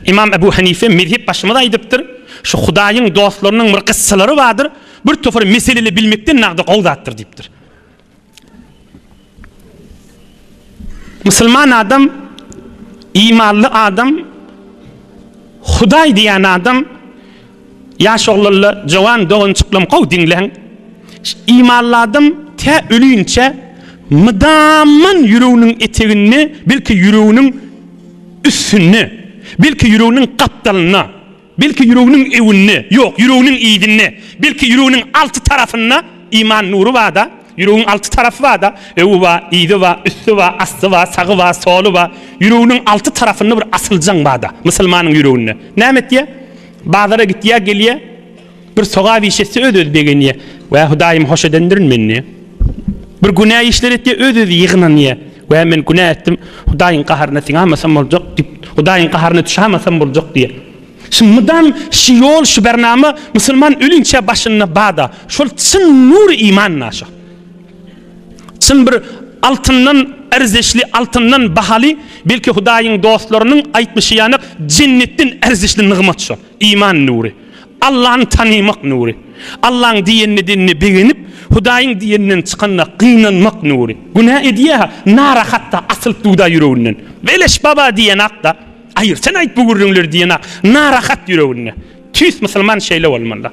Ymam Ebu Hanife mezhep başymyz aýdypdyr, Şu Hudaýyň dostlarynyň bir gyssalary bardyr, bir topar meseleli bilmekden nagdy gowy zatdyr diýipdir. Musulman adam, imanly adam, Hudaý diýen adam Ýaş oglanlar, jowan doganjyklam gowy diňläň. Imanladym tä ölünçä mydaman ýüreginiň eteginde, belki ýüreginiň üstünde, belki ýüreginiň gapdalynda, belki ýüreginiň öwünde, ýok, ýüreginiň yzynda, belki ýüreginiň alty tarapynda iman nury bar-da, Ýüregiň alty tarapy bar-da, öňi bar, yzy bar, üsti bar, asty bar, sagy bar, soly bar. Ýüreginiň alty tarapynda bir asyljaň bar-da, musulmanyň ýüreginde. Näme etýär? Bazara gitýär, gelýär, bir sogap iş etse öz-özi begenýär. Wä, Hudaýym hoş edendirin meni diýýär. Bir günä işler etýär, öz-özi ýygnanýar. Wä, men günä etdim, Hudaýyň gaharyna siňämasam boljak diýip, Hudaýyň gaharyna düşämasam boljak diýýär. Şu mydam şu ýol şu bernama musulman ölünçä başynda bada şol çyn nury iman naşa. Çyn bir altyndan erzişli altyndan bahaly belki hudaýyň dostlarynyň aýtmyşy ýanak jennetden erzişli nygmat şo iman nury. Allany tanymak nury. Allaň diýenini dinini begenip hudaýyň diýeninden çykanda gynanmak nury. Günä edýä narahatda asylyp duda ýüreginden. Beleş baba diýen akda. Aýyr, sen aýt bu gürrüňleri diýen-ak narahat ýüreginde. Tüýs musulman şeýle bolmaly.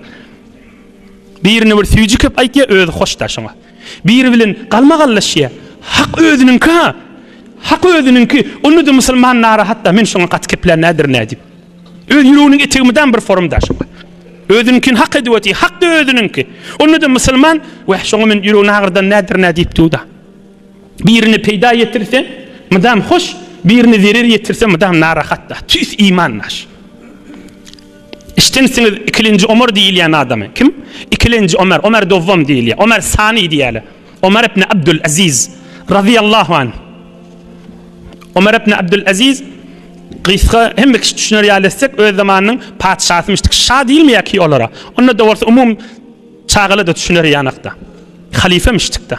Birine bir süýji köp aýtýar, özi hoşda şoňa. Biri bilen galmagallaşýar. Hak özüniňki-ha. Hak özüniňki. Onda-da musulman narahat-da, men şoňa gaty keplän nädir nä diýip. Öz ýüreginiň etigi mydam bir forum-da şoňa. Özüniňkini hak edip otyr, hak-da özüniňki. Onda-da musulman, Weh, şoňa men ýüregini agyrdan nädir nä diýip dur-da. Birine peýda ýetirse, mydam hoş, birine zerer ýetirse, mydam narahat-da. Tüýs iman daş. Eşidensiňiz ikilenji Omar diýilýän adamy. Kim? Ikilenji Omar, Omar Dowwam diýilýär. Omar Sani diýýärler. Omar ibn Abdul Aziz razyýallahu anh. Omar ibn Abdul Aziz gysga hemme kişi düşüner ýaly etsek, öz zamanynyň patyşasymyşdyk. Şa diýilmeýär ki olara. Onda-da bolsa umum çagala-da düşüner ýanakda. Halyfamyşdyk-da.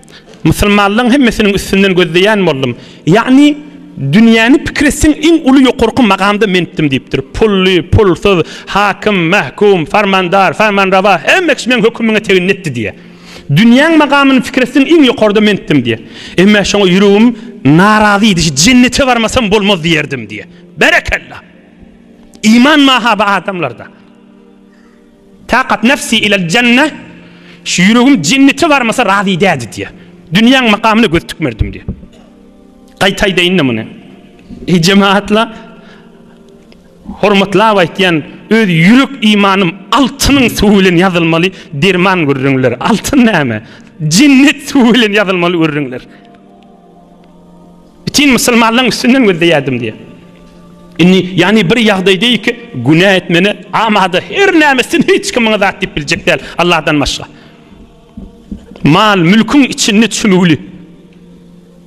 Musulmanlaryň hemmesiniň üstünden gözleýän boldum. Ýagny, dünýäni pikir etseň, iň uly ýokarky magamda mendim diýipdir. Pully, pulsuz, hakim, mahkum, farmandar, farmanrawa, hemme kişi meň hökümiňe teginni etdi diýýär. Dünýäň magamyny pikir etseň, iň ýokarda mendim diýýär. Emma şoňa ýüregim narazy idiji, jennete barmasam bolmaz diýerdim diýýär. Berekella! Iman mahaby adamlarda. Taqat nefsi ilel jenne, Şu ýüregim jennete barmasa razy däldi diýýär. Dünýäň makamyna göz tikmerdim diýýär. Gaýta aýdaýyn-da muny. Eý jemagatlar, hormatlap aýtýan, öz ýürek imanym altynyň suwy bilen ýazylmaly derman gürrüňler. Altyn näme? Jennet suwy bilen ýazylmaly gürrüňler. Bütin musulmanlaryň üstünden gözleýärdim diýýär. Indi ýagny bir ýagdaý diýýär ki, günä etmeli amada her näme etsin hiç kim muňa zat diýip biljek däl Allahdan başga. Mal, mülküň içinde çümüwli.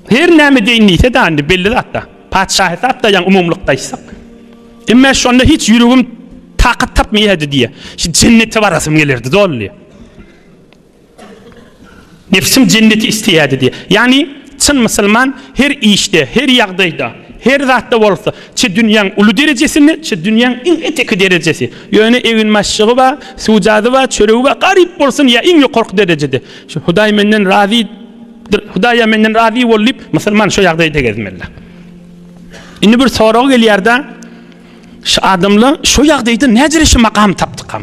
Her näme deýin diýse de indi belli zatda. Patyşa hesap da ýaň umumlykda aýtsak. Emme şonda hiç ýüregim takat tapmaýardy diýýär. Şu jennete barasym gelerdi doly. Nebsim jenneti isleýärdi diýýär. Ýagny, çyn musulman her işde, her ýagdaýda, her zatda bolsa, çi dünýäň uly derejesini, çi dünýäň iň eteki derejesi, ýöne eginbaşjygy bar, sujady bar, çöregi bar, garyp bolsun ýa iň ýokarky derejede, şu Hudaý menden razydyr, Hudaý-a menden razy bol diýip, musulman şo ýagdaýda gezmeli. Indi bir sorag gelýär-de, şu adamlar şo ýagdaýda näderejede makam tapdykam?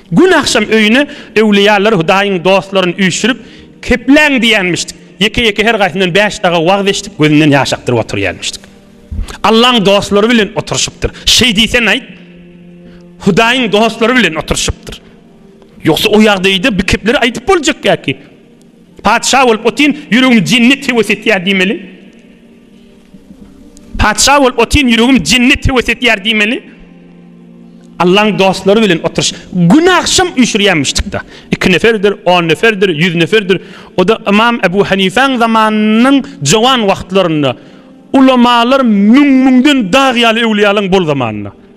Gün agşam öýüne öwlüýäler Hudaýyň dostlaryn üýşürip kepläň diýýänmişdik. Ýeke-ýeke her gaýsyndan bäş daga wagyz eşidip gözünden ýaş akdyryp oturýanmişdik. Allaň dostlary bilen oturyşypdyr. Şeý diýsen aýt, Hudaýyň dostlary bilen oturyşypdyr. Ýogsa o ýagdaýda bi kepleri aýdyp boljak ýa ki. Patyşa bolup otyryn, ýüregim jennet höwes etýär diýmeli. Patyşa bolup otyryn ýüregim jenne höwes etýär diýmeli. Allaň dostlary bilen oturyş. Gün agşam üýşürýär muşdykda. Iki neferdir, on neferdir, ýüz neferdir. O-da Ymam Ebu Hanifäň zamanynyň jowan wagtlarynda. Ulamalar müň-müňden dag ýaly öwlüýälaň bol zamanynda.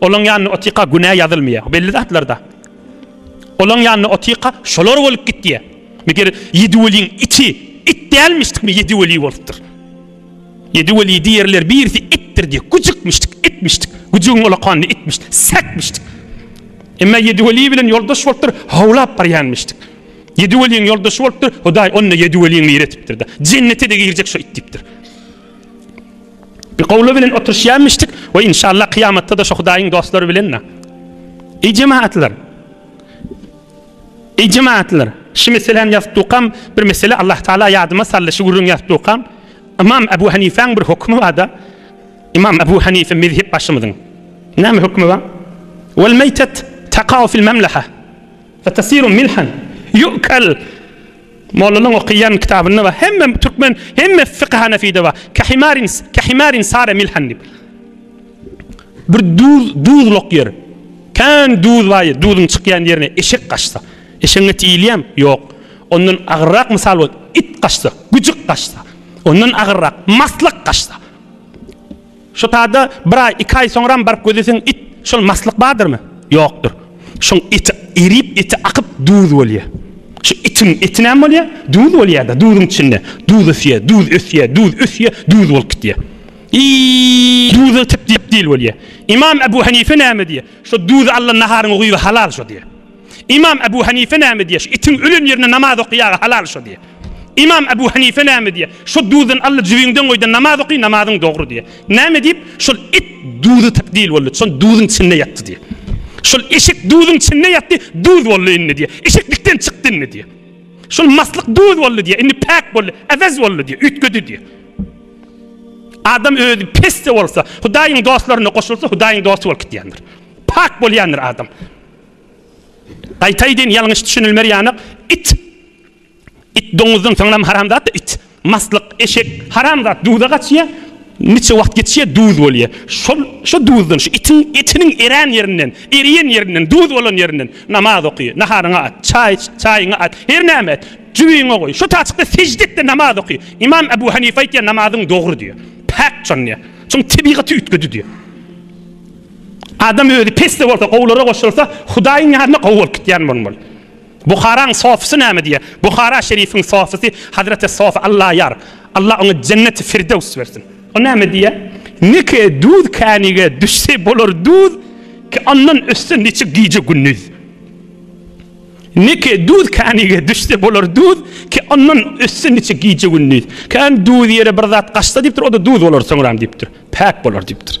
Olaň ýanyna otyka günä ýazylmaýar. Belli zatlarda. Olaň ýanyna otyka şolar bolup gitýär. Meger ýedi weliň iki it dälmişdikmi ýedi weli bolupdyr. Ýedi weli diýerler birisi itdir diýip güjükmişdik, itmişdik. Güjügiň ulakanyny itmiş, säkmişdik. Emma ýedi weli bilen ýoldaş bolupdyr, howlap barýanmyşdyk. Ýedi weliň ýoldaşy bolupdyr, Hudaý onda ýedi weliň nire etipdir-de. Jennete-de girjek şo it diýipdir. Bir gowly bilen oturşýarmyşdyk we inşallah kyýamatda-da şo Hudaýyň dostlary bilen-de. Eý jemaatlar! Eý jemaatlar! Şu meseläni ýazyp durkam, bir mesele Allah Taala ýadyma saldy, şu gürrüňi ýazyp durkam. Ymam Abu Hanifäň bir hökümi bar-da. Ymam Abu Hanife mezhep başymyzyň. Näme hökümi bar? Wal meýtet takau fil memleha. Fe tasiru milhan. Yu'kal. Mollanyň okyýan kitabynda bar. Hemme türkmen, hemme fiky hanefide bar. Kahimarin, kahimarin sare milhan diýip. Bir duz, duzluk ýer. Kän duz bar ýer. Duzuň çykýan ýerine eşek gaçsa. Eşegiň eti iýilýärmi? Ýok. Ondan agyrrak mysal bol, it gaçsa, güjük gaçsa. Ondan agyrrak, maslyk gaçsa. Şu tada bir aý, iki aý soňram baryp gözleseň it, şol maslyk bardyrmy? Ýokdur. Şoň eti erip, eti akyp duz bolýa. Şu itiň eti näme bolýa? Duz bolýada, duzuň içinde. Duz ösýä, duz ösýä, duz ösýä, duz bolup gitýä. I duza tep-dip dil bolýa. Imam Ebu Henife näme diýä? Şo duzy allan naharyňy guýgy halal şo diýä. Imam Abu Hanife näme diýýär? Itiň ölen ýerine namaz okaýaga halal şo diýýär. Imam Abu Hanife näme diýýär? Şo duzdan alla jübiňden goýdan namaz oky namazyň dogry diýýär. Näme diýip? Şol it duzy takdil boldy. Şol duzyň içinde ýatdy diýýär. Şol eşek duzyň içinde ýatdy, duz boldy indi diýýär. Eşek dikden çykdy indi diýýär. Şol maslyk duz boldy diýýär. Indi päk boldy, äwez boldy diýýär. Üýtgedi diýýär. Adam özi pes-de bolsa, Hudaýyň dostlaryna goşulsa, Hudaýyň dosty bolup gitýändir. Pak bolýandyr adam. Gaýtaýdyn ýalňyş düşünilmer ýanak it it doňuzdan soňram haramzat it maslyk eşek haramzat duza gaçýa niçe wagt geçýä duz bolýa şol şo duzdan şu itiň etiniň erän ýerinden eriýen ýerinden duz bolan ýerinden namaz oky naharyňa at çaý çaýyňa at her näme et jübiňe goý şo taçykda sejde etde namaz oky imam abu hanifa aýtýa namazyň dogry diýä päk çonýa çon tebigaty üýtgedi diýä Adam özi pes-de bolsa, gowulara goşulsa, Hudaýyň ýanyna gowy bolup gitýän bolmaly. Buharaň sofysy näme diýýär? Buhara şerifiň sofysy Hazreti Sof Allaýar, Alla oňa Jenneti Firdews bersin. O näme diýýär? Neke duz känige düşse bolar duz, ki ondan ötse niçik gije-gündiz. Neke duz känige düşse bolar duz, ki ondan ötse niçik gije-gündiz. Kän duz ýere bir zat gaçsa diýipdir, o-da duz bolar soňram diýipdir. Päk bolar diýipdir.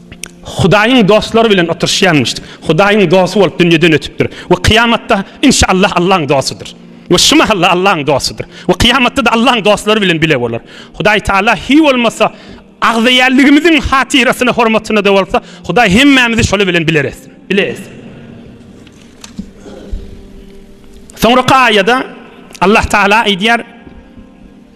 Hudaýyň dostlary bilen oturyşýarmyş. Hudaýyň dosty bolup dünýeden ötüpdir we kyýamatda inşallah Allahyň dostudyr. We şu mahalla Allahyň dostudyr. We kyýamatda-da Allahyň dostlary bilen bile bolar. Hudaý Taala hiý bolmasa agzybirligimiziň hatyrasyna hormatyna-da bolsa Hudaý hemmämizi şolar bilen biler etsin. Bile etsin. Soňra kaýada Allah Taala aýdýar,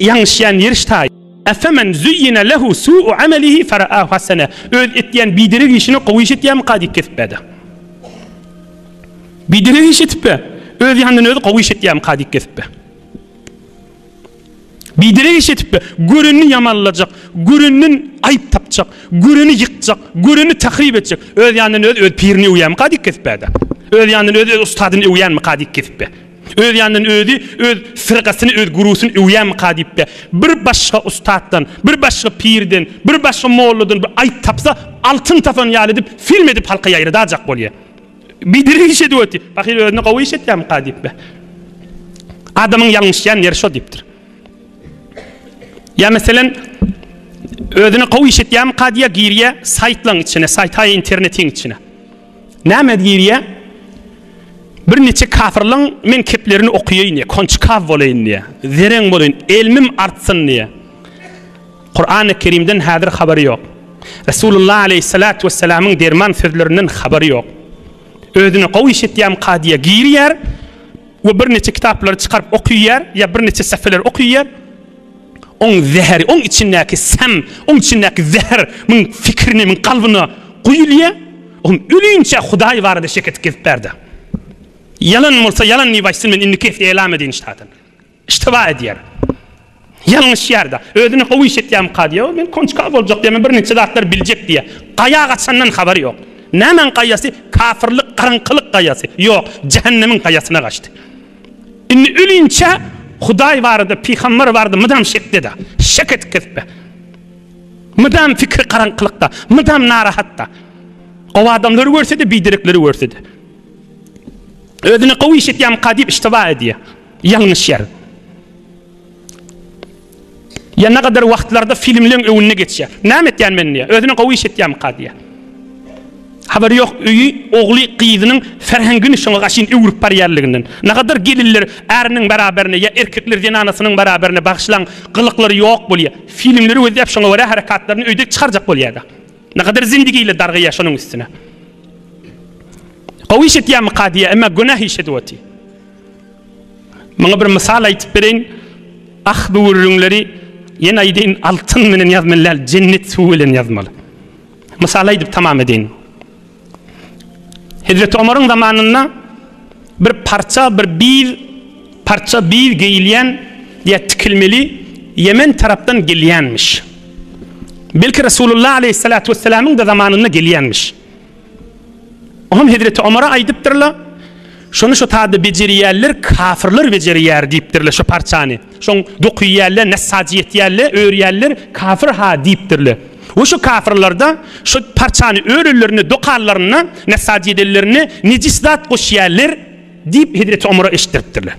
Ýaňyşýan ýeriş taý. Efemen züyyine lehu su'u amelihi fera'ahu hasene. Öz etýän biderek işini gowy iş etýärmika diýip kesip bärde. Biderek iş etip be. Öz ýanyndan özi gowy iş etýärmika diýip kesip be. Biderek iş etip be. Görenini ýamanlajak, göreninden aýyp tapjak, göreni ýykjak, göreni tahryp etjek. Öz ýanyndan özi öz pirini öwýärmika diýip kesip bärde. Öz ýanyndan özi öz ustadyny öwýärmika diýip kesip be. Öz ýanyndan özi öz firgasyny, öz gurusyny öwýärmika diýip-de, bir başga ussatdan, bir başga pirden, bir başga molladan bir aýp tapsa, altyn tapan ýaly edip, film edip halka ýaýradajak bolýar. Biderek iş edip otyr. Pahyr özüne gowy iş etýärmika diýip-de. Adamyň ýalňyşýan ýeri şo diýipdir. Ýa meselen, özüne gowy iş etýärmika diýýär, girýär saýtlaryň içine, saýt, haý, internetiň içine. Näme girýä? Bir niçik kafirliň men keplerini okuyayyn diýýär. Konçkaw bolaýyn diýýär. Zeren bolaýyn, elmim artsyn diýýär. Kur'an-y Kerimden häzir habary ýok. Resulullah aleyhissalatu vesselamyň derman sözlerinden habary ýok. Özüne gowy iş etýämka diýýär, girýär we bir niçik kitaplary çykaryp okuyýär, ýa bir niçik safeleri okuyýär. Oň zäheri, oň içindäki säm, oň içindäki zäher muň fikirine, muň kalbyna guýulýa, on ölünçä Hudaý barada şek edip gezip bärde. Ýalan bolsa ýalan diýip aýtsyn, men indiki ýesli elam edýin şadan. Iştiba edýär. Ýalňyşýarda. Özüne how iş etýärmika diýä, men konçka boljak diýä, men bir niçe zatlar biljek diýä. Gaýa gaçandan habary ýok. Nämäň gaýasy? Kafirlik, garaňkylyk gaýasy. Ýok, jähennemiň gaýasyna gaçdy. Indi ölinçä Hudaý barada, pygamber barada mydam şekde-de, şek edip gezip-de. Mydam pikiri garaňkylykda, mydam narahat-da. Gowy adamlary görse-de, biderekleri görse-de. Özüne gowy iş etýärmika diýip iştiba edýär. Ýalňyşýar. Ýa näkadyr wagtlarda filmleň öňünde geçýär. Näme etýän men diýýär. Özüne gowy iş etýämika diýýär. Habary ýok öýi, ogly, gyzynyň ferhengini şoňa gaşyn öwrüp barýarlygynden. Näkadyr gelinler äriniň beraberine ýa erkekler zenanasynyň beraberine bagyşlan gylyklary ýok bolýar. Filmleri gözläp şoňa görä harakatlaryny öýde çykarjak bolýarda. Näkadyr zindigiler dargaýýar şonuň üstüne. Gowy iş etýämika diýýär emma günäh iş edip otyr. Muňa bir mysal aýtyp bereýin. Ah bu gürrüňleri, ýene aýdaýyn, altyn bilen ýazmaly däl, jennet suwy bilen ýazmaly. Mysal aýdyp tamam edeýin. Hezreti Omaryň zamanynda bir parça, bir biz, parça biz geýilýän ýa tikilmeli Ýemen tarapdan gelýänmiş. Belki Resulullah aleýhissalatu wessalamyň-da zamanynda gelýänmiş. Oňam hezreti Omara aýdypdyrlar, Şony şo taýda bejerýärler, kafyrlar bejerýär diýipdirler şo parçany. Şoň dokyýärler, nessajy ýetýärler, örýärler, kafir-ha diýipdirler. We şo kafirlerde şo parçany örenlerinde, dokanlarynda, nessajy edenlerinde nejis zat goşýarlar diýip hezreti Omara eşitdiripdirler.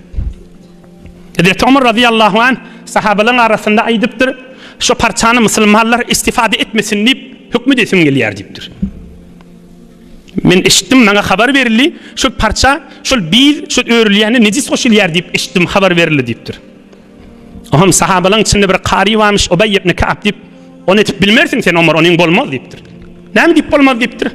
Hezreti Omar razyýallahu anh sahabalaryň arasynda aýdypdyr, Şu parçany musulmanlar istifade etmesin diýip, höküm edesim gelýär diýipdir. Men eşitdim, maňa habar berildi, şol parça, şol biz, şol örülýäne nejis goşulýar diýip eşitdim, habar berildi diýipdir. Oňam sahabalaryň içinde bir kary barmyş, Ubeý ibn Ka'b diýip, Ony etip bilmersiň sen Omar, onuň bolmaz diýipdir. Näme diýip bolmaz diýipdir.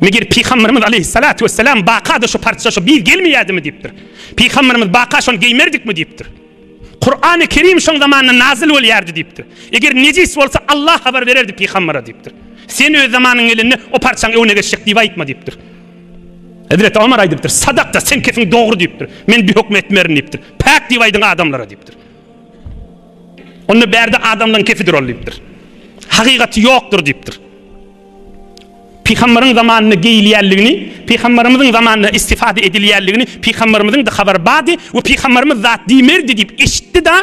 Meger pygamberimiz aleýhissalatu wessalam bakada şu parça, şu biz gelmeýädimi diýipdir. Pygamberimiz baka şony geýmerdikmi diýipdir. Kurany Kerim şoň zamanynda nazyl bolýardy diýipdir. Eger nejis bolsa Allah habar bererdi pygambere diýipdir. Sen öz zamanyň gelende o parçaň öňüne geçjek diýip aýtma diýipdir. Hezreti Omar aýdypdyr, sadakda sen kesin dogry diýipdir. Men bir höküm etmerin diýipdir. Päk diýip aýdyň adamlara diýipdir. Onda bärde adamlaryň kefidir ol diýipdir. Hakykaty ýokdur diýipdir. Pygamberiň zamanynda geýilýänligini, Pygamberimiziň zamanynda istifade edilýänligini Pygamberimiziň-de habary bardy we Pygamberimiz zat diýmerdi diýip eşitdi-de,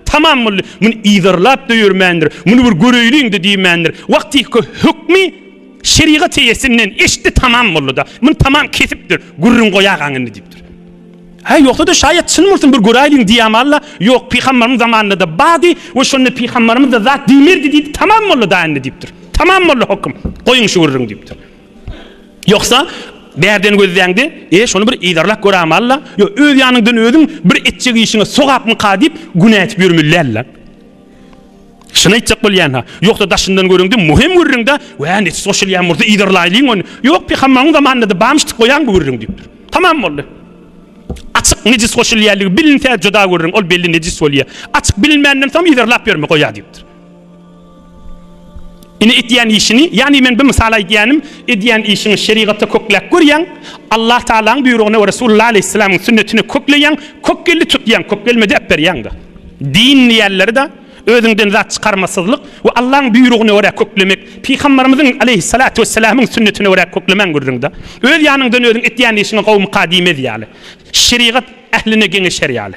tamam boldy. Muny yzarlap-da ýörmändir, muny bir göreýliň-de diýmändir. Wagtyky hökmi şerigat eýesinden eşitdi, tamam boldy-da. Muny tamam kesipdir, gürrüň goýagaň indi diýipdir. Hä, ýogsa-da, şaýat çyn bolsun bir göräýeliň diýämalla, ýok, pygambaryň zamanynda-da bardy we şonda pygambarymyz-da zat diýmerdi diýdi, tamam boldy daýy indi diýipdir. Tamam boldy hokym, goýuň şu gürrüňi diýipdir. Ýogsa, bärden gözläňde, e, şony bir yzarlap görämalla, ýo, öz ýanyňdan özüň bir etjek işiňe sogapmyka diýip, günä edip ýörmeli däl-le. Şuny aýtjak bolýan-ha. Ýogsa daşyndan görüňde möhem gürrüňde, Wä, neçe goşulýan bolsa yzarlaýlyň ony. Ýok, peýhamberiň zamanynda-da barmyş diýip goýaň bu gürrüň diýipdir. Tamam boldy. Açyk nejis goşulýanlygy bilinse juda gürrüň, ol belli nejis bolýar. Açyk bilinmänden soň yzarlap ýörme goýa diýipdir. Ine etýän işini, ýagny men bu mysal aýdýanym, edýän işiňi şerigatda kökläp görýäň, Allah Tagalaň buýrugyna we Resulullah aleýhissalamyň sünnetine kökleýäň, kökgeldi tutýaň, kökgelmedi äp berýäň-de. Din diýýänleri-de Özüňden zat çykarmasyzlyk we Allaň buýrugyna görä köklemek, Pygambarymyzyň, aleýhissalatu wessalamyň, sünnetine görä köklemäň gürrüňde. Öz ýanyňdan özüň etýän işiňi gowumyka diýmez ýaly, şerigat ähline geňeşer ýaly.